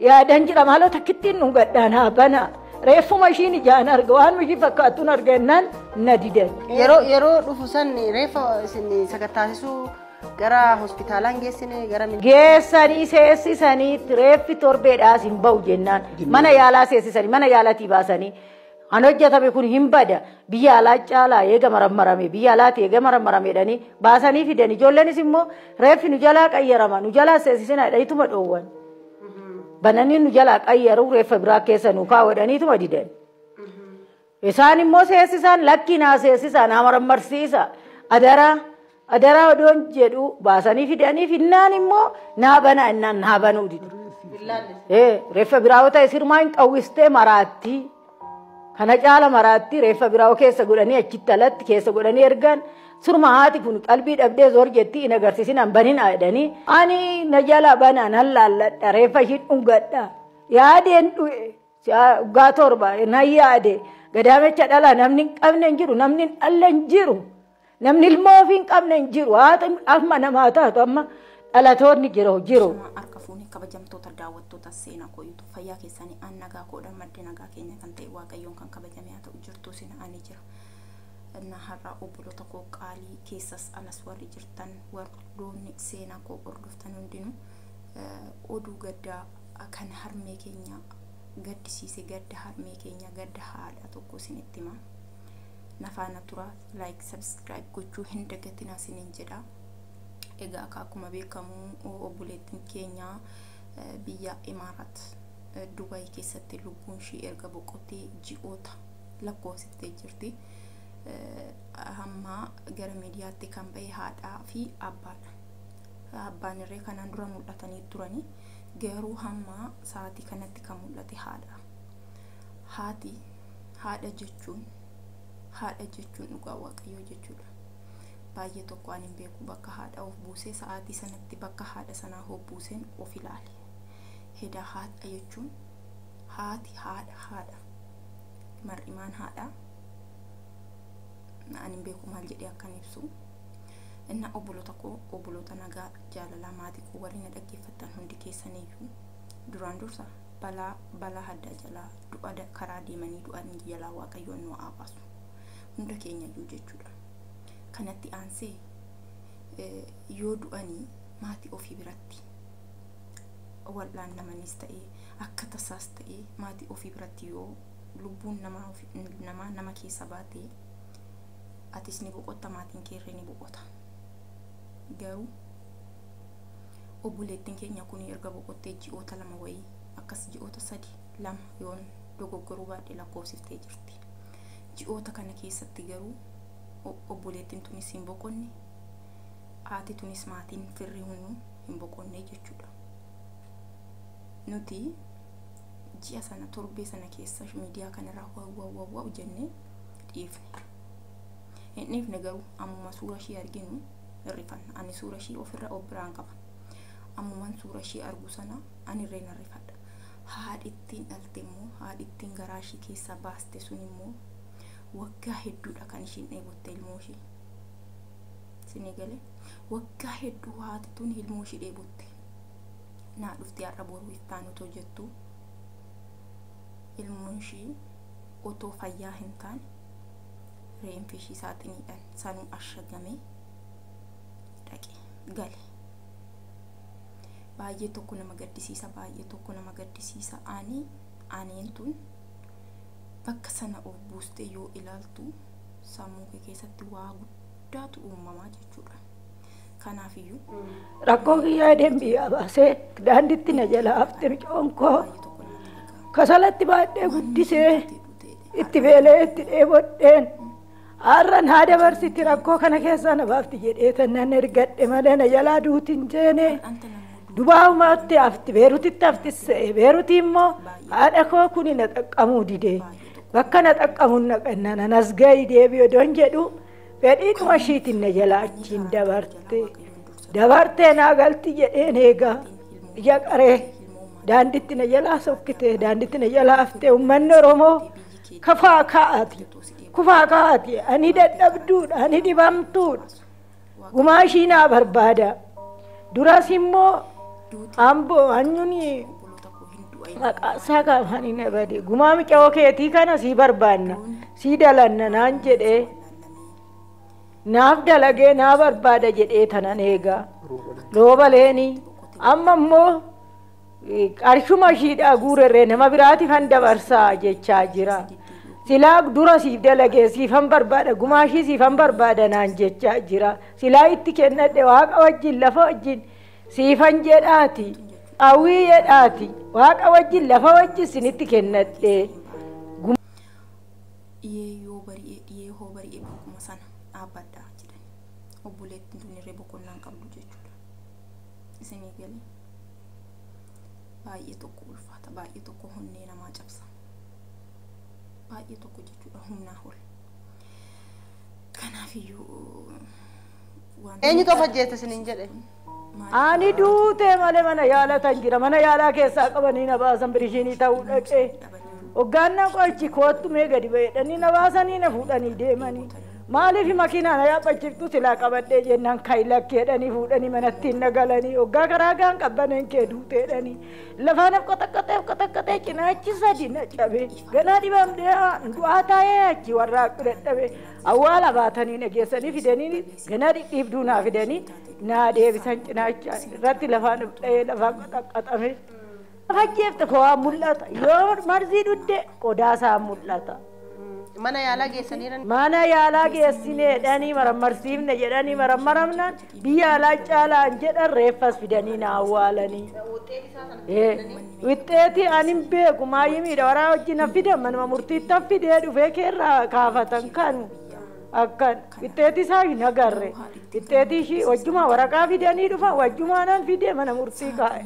Yaadan jira maaloo takkittiin nu gaddaan haa bana. Reeffuma ishiin ijaan arga waan ishii fakkaattuun arga jennaan na didan. Yeroo yeroo dhufu san reeffa isin sakattaasisuu gara hospitaalaan geessine gara min- Geessanii seessisanii reeffi torbeedhaas hin ba'u jennaan mana yaalaa seessisanii mana yaalatii baasanii Kan hojjetame kun hin bada biyya alaa caalaa eega marammarame biyya alaati eega marammarame jedhanii baasanii fidan ijoollenis immoo reeffi nu jalaa qayyarama nu jalaa seesisina jedhaniituma dhoowwan bananii nu jalaa qayyaru reeffa biraa keessa nu kaa'u jedhaniituma didan. Isaan immoo seesisaan lakkii naa seesisaan haa marammarsiisa adaraa Adaraa odoon jedhu baasanii fidanii finnaan immoo naa banaa innaan naa banuu dide. Ee reeffa biraawoo ta'e sirmaa hin qawwistee maraattii. Kana caala maraattii reeffa biraawoo keessa godhanii achitti alatti keessa godhanii ergan surma haati kun qalbii dhabdee zoor jettii hin agarsiisin an banin jedhanii ani na jala banaan an laalladha reeffa ishiin dhungadha yaadeen dhu'e waggaa torba na yaade gadaamecha dhala namni hin qabne hin jiru namni hin dhalle hin jiru. Namni ilmoo ofii hin qabne hin jiru. Haati amma namaa taatu amma dhalatoonni jiru jiru. Shama harka fuune kabajamtoota daawwattoota seenaa koo yuutuub fayyaa keessanii aan nagaa koodha maddi nagaa keenya kan ta'e waaqayyoon kan kabajame haa ta'u jirtuu sin ani jira. Innaa har'aa obboloota koo qaalii keessas alas warri jirtan warroonni seenaa koo hordoftan hundinuu eh, oduu gaddaa eh, kan harmee keenya gaddisiise gadda harmee keenya gadda haadha tokko isinitti himaa. na faana tura like subscribe gochuu hin dagatinaa sinin jedha egaa akka akkuma beekamu obboleettiin keenya biyya imaaraat dubayi keessatti lubbuun ishii erga boqottee ji'oota lakkoofsiftee jirti hamma gara miidiyaatti kan ba'e haadhaa fi abbaadha abbaan irree kanaan dura mul'atanii turanii garuu hamma sa'aatii kanatti kan mul'ate haadha haati haadha jechuun haadha jechuun dhugaa waaqayyoo jechuudha. Baay'ee tokko ani hin beeku bakka haadha of buusee sa'aatii sanatti bakka haadha sanaa of buuseen of ilaale. Hedaa haadha jechuun haati haadha haadha mar'imaan haadha ani hin beeku maal jedhee akkan ibsu. Inna obboloota koo obboloota nagaa jaalalaa maatii koo warri na dhaggeeffattan hundi keessaniyyuu duraan dursa balaa balaa haddaa jalaa du'a karaa deemanii du'an jalaa waaqayyoon nu haa baasu hunda keenya iyyuu jechuudha kanatti aansee yoo du'anii maatii ofii biratti wal'aan namanis ta'ee akka tasaas ta'ee maatii ofii biratti yoo lubbuun namaa namaa nama keessa baatee atis ni boqotta maatiin keerree ni boqota garuu obboleettiin keenya kun erga boqottee ji'oota lama wayii akkas ji'oota sadii 2 yoon dogoggoruu baadhe lakkoofsiftee jirti. Ji'oota kana keessatti garuu obboleettiin tunis hin boqonne, haati tunis maatiin firri hunduu hin boqonne jechuudha. Nuti ji'a sana torbee sana keessa miidiyaa kanarraa waawwaawwaawwaaw jennee dhiifne. Hin dhiifne garuu ammuma suura ishii arginu hin rifanna. Ani suura ishii ofirra of biraan qaba. Ammuman suura ishii argu sana ani irreen hin rifadha. Haadhi ittiin dhalte immoo, haadhi ittiin garaa ishii keessaa baaste sun immoo waggaa hedduudha kan ishiin dheebotte ilmoo ishii. Sinii galee waggaa hedduu haati tun ilmoo ishii dheebotte. Naa dhufti har'a boru ittaan otoo jettuu ilmoon ishii otoo fayyaa hin taane reenfi ishii saaxiniidhaan sanuu ashagamee dhaqe gale. Baay'ee tokko nama gaddisiisa baay'ee tokko nama gaddisiisa aanee aaneen tun bakka sana of buustee yoo ilaaltu sammuu kee keessatti waa guddaatu uumamaa jechuudha. Kanaafiyyuu Rakkoo kiyyaa edeen biyyaa baasee daanditti na jala hafte micoon koo baay'ee tokko nama dhaga'a. kasalatti baadhee guddisee itti beelee itti dheebodheen Har'a naa dabarsitti rakkoo kana keessaa na baafti jedhee tan nan ergadhe malee na jalaa duuti hin jeene. Dubaa'umatti hafti beerutitti hafti se'e beeruti immoo haadha koo kuni na xaqqamuu dide bakka na xaqqamuun na qanna na nasgayi deebi'e don jedhu fedhiidhuma ishiitiin na jalaa achiin dabarte dabartee naa galti jedheen eegaa ija qaree daanditti na jalaa sokkite daanditti na jalaa haftee uummanni Oromoo Kafaa ka'aati. Kufaa ka'aati. Ani dadhabduudha. Ani dhibamtuudha. Gumaa ishii naa barbaada. Duras immoo amboo anyuun maqaa isaa kaafaan hin abade. Gumaa mica'oo keetii kana sii barbaanna. Sii dalanna naan jedhee. Naaf dalagee naa barbaada jedhee tanan eegaa. Roobaleeni. Amma immoo Qarshuma ishiidhaa guurerree nama biraati kan dabarsaa jechaa jira. Silaa dura siif dalagee siifan barbaada gumaa ishii siifan barbaada naan jechaa jira. Silaa itti kennadhe waaqa wajjin lafa wajjin siifan jedhaati. Awwii jedhaati. Waaqa wajjin lafa wajjin sinitti kennadhe. Dhiyee yoo bari'e dhiyee hoo bari'e bakkuma sana dhaabbadha jedhani. Obboleettiin tunirree boqonnaan qabdu jechuudha. isinii gale baay'ee tokko ulfaata baay'ee tokko honnee namaa cabsa baay'ee tokko jechuudha humnaa ol kanaaf iyyuu waan Eenyutu of ajjeese isiniin jedhe? Ani duutee malee mana yaalaa tan jira. Mana yaalaa keessaa qabanii na baasan birishiinii ta'uu dhaqee. Hoggaannaa qorichi koottu mee gadi ba'edhanii na baasanii na fuudhanii deemanii. Maaliif makiinaa na yaabbachiftu silaa qabadhee jennaan ka'i lakki jedhanii fuudhanii manattiin na galanii hoggaa karaa gaan qabbaneen kee duute jedhanii lafaa naf qotaqqaxee qotaqqaxee cinaachi sadi na cabe ganaa dhibamdee du'aa taa'ee achi warraaqu dadhabe awwaala baatanii na geessanii fidanii ganaa dhidhiibduu naa fidanii naa deebisan cinaacha irratti lafaa naf dha'ee lafaa qotaqqaxame. Fakkeefte kowaa mul'ata. Yoo marzii dhudde qodaa isaa mul'ata. Mana yaalaa geessaniira. Mana yaalaa geessinee jedhanii marammarsiifne jedhanii marammaramnaan biyya alaa caalaan jedhan reeffas fidanii na awwaalanii. Wixxeetii ani hin beeku maayii miidha waraa hojii na fidan manuma murtiittan fidee dhufee keerraa kaafatan kanu. Akkan wixxeetii isaa hin agarre. Wixxeetii ishii wajjumaa waraqaa fidanii dhufan wajjumaanan fidee mana murtii kaa'e.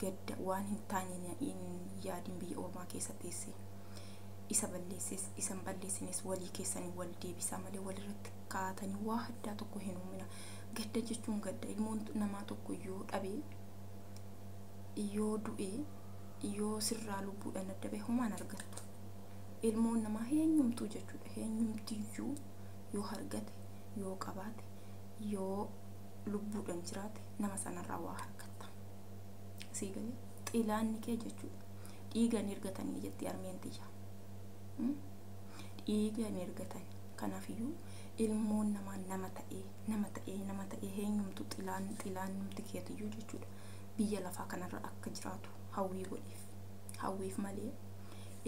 Gadda waan hin taane na hin yaadin biyya ormaa keessa teessee. Isa balleessis isa hin balleessinis walii keessaniin wal deebisaa malee wal irratti kaatanii waa addaa tokko hin uumina. Gadda jechuun gadda. Ilmoon namaa tokko yoo dhabe, yoo du'e, yoo sirraa lubbuudhaan adda bahe homaa hin argattu. Ilmoon namaa heenyumtuu jechuudha. Heenyumtiyyuu yoo argate, yoo qabaate, yoo lubbuudhaan jiraate nama sanarraa waa argatta. sii galee xilaanni kee jechuudha dhiiga hin ergatanii jetti armeen tiyya Hmm? dhiiga hin ergatan kanaafiyyuu ilmoon namaa nama ta'ee nama ta'ee nama ta'ee heenyumtu xilaan xilaan numti keetiyyuu jechuudha biyya lafaa kanarra akka jiraatu hawwii godhiif hawwiif malee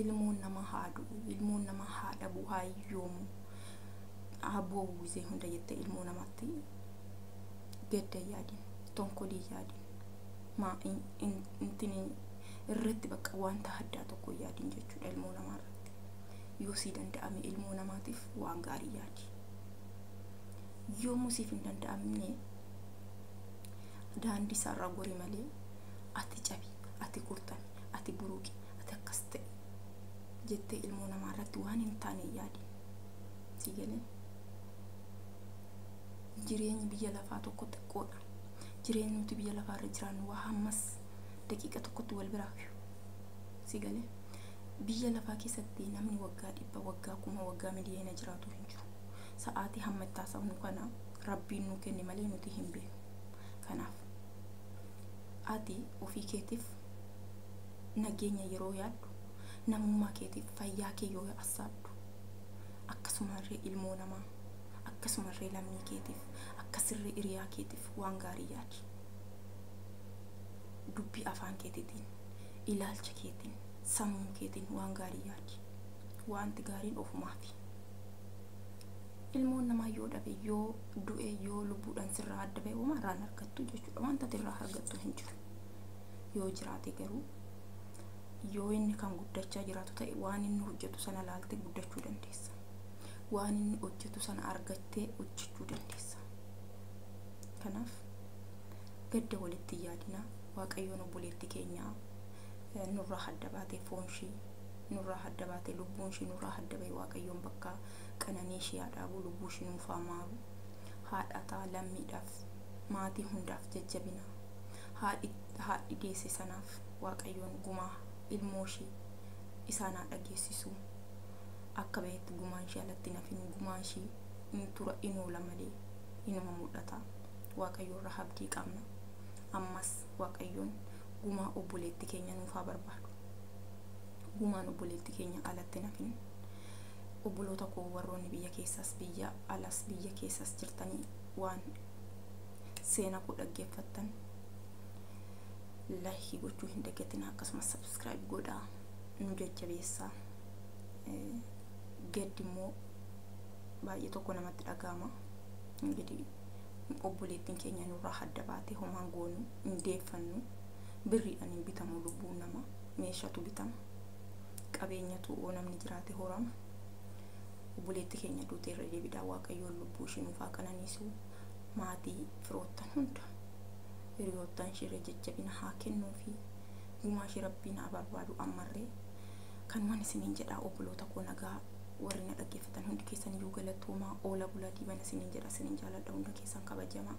ilmoon namaa haa du'u ilmoon namaa haa dhabu haa hiyyoomu haa boo'u gizee hunda jettee ilmoo namaatti gadda hin yaadin tonkolii hin yaadin maa in- in- intini irratti bakka wanta haddaa tokko hin yaadin jechuudha ilmoo namaa irratti yoo sii danda'ame ilmoo namaatiif waan gaarii yaadi yoomuu siif hin danda'amne daandii isaarraa gori malee ati cabi ati kurtami ati buruqi ati akkas ta'e jettee ilmoo namaa irratti waan hin taane hin yaadin sii galee jireenyi biyya lafaa tokko xiqqoodha. Jireenyi nuti biyya lafaa irra jiraannu waa hammas daqiiqa tokkotti wal biraa fiyu. Si galee biyya lafaa keessatti namni waggaa dhibba waggaa kuma waggaa miliyoona jiraatu hin jiru. Sa'aatii hamma itti haasofnu kana rabbiin nuu kenne malee nuti hin beeknu. Kanaaf ati ofii keetiif nageenya yeroo yaaddu namummaa keetiif fayyaa kee yoo assaabdu akkasumarree ilmoo namaa Akkasumarree lammii keetiif, akkasirree iriyaa keetiif waan gaarii yaadi. Dubbii afaan keetitiin, ilaalcha keetiin, sammuu keetiin waan gaarii yaadi. Waanti gaariin ofumaafi. Ilmoon namaa yoo dhabe, yoo du'e, yoo lubbuudhaan sirraa adda ba'e homaa irraa hin argattu jechuudha. Wanta ati irraa argattu hin jiru. Yoo jiraate garuu yoo inni kan guddachaa jiraatu ta'e waan inni hojjetu sana ilaaltee guddachuu dandeessa. waan inni hojjetu sana argattee hojjechuu dandeessa. Kanaaf gadda walitti hin yaadinaa waaqayyoon obboleetti keenyaa eh, nurraa hadda baatee foon ishii nurraa hadda baatee lubbuun ishii nurraa hadda ba'e waaqayyoon bakka qananii ishii haa dhaabu lubbuu ishii nuuf haa maaru haadhaa ta'a lammiidhaaf maatii hundaaf jajjabina haadhi haadhi deesse sanaaf waaqayyoon gumaa ilmoo ishii isaan haa dhageessisu. akka bahetti gumaan ishee alatti hin hafin gumaa ishee in tura in oola malee inuma mul'ata waaqayyo irraa abdii qabna ammas waaqayyoon gumaa obboleetti keenya nuuf haa barbaadu gumaan obboleetti keenya alatti hin hafin obboloota koo warroonni biyya keessaas biyya alas biyya keessaas jirtanii waan seena koo dhaggeeffattan laayikii gochuu hin dagatinaa akkasumas sabskiraayib godhaa nu jajjabeessaa gaddi immoo baay'ee tokko namatti dhaga'ama. Ingidihi obboleettiin keenya nurraa hadda baatee homaan goonu hin deeffannu birriidhaan hin bitamu lubbuun nama meeshatu bitama qabeenyatu oo namni jiraate horama obboleetti keenya duutee irra deebiidhaa waaqayyoon lubbuu ishii nuuf haa qananiisu maatii firoottan hunda hiriyoottan ishirra jajjabina haa kennuu fi gumaa ishii rabbiin haa barbaadu ammarree Kanuman isiniin jedha obboloota koo nagaa warri na dhaggeeffatan hundi keessan iyyuu galatoomaa oola bulaa diibana isiniin jedha isinin jaaladha hunda keessan kabajamaa.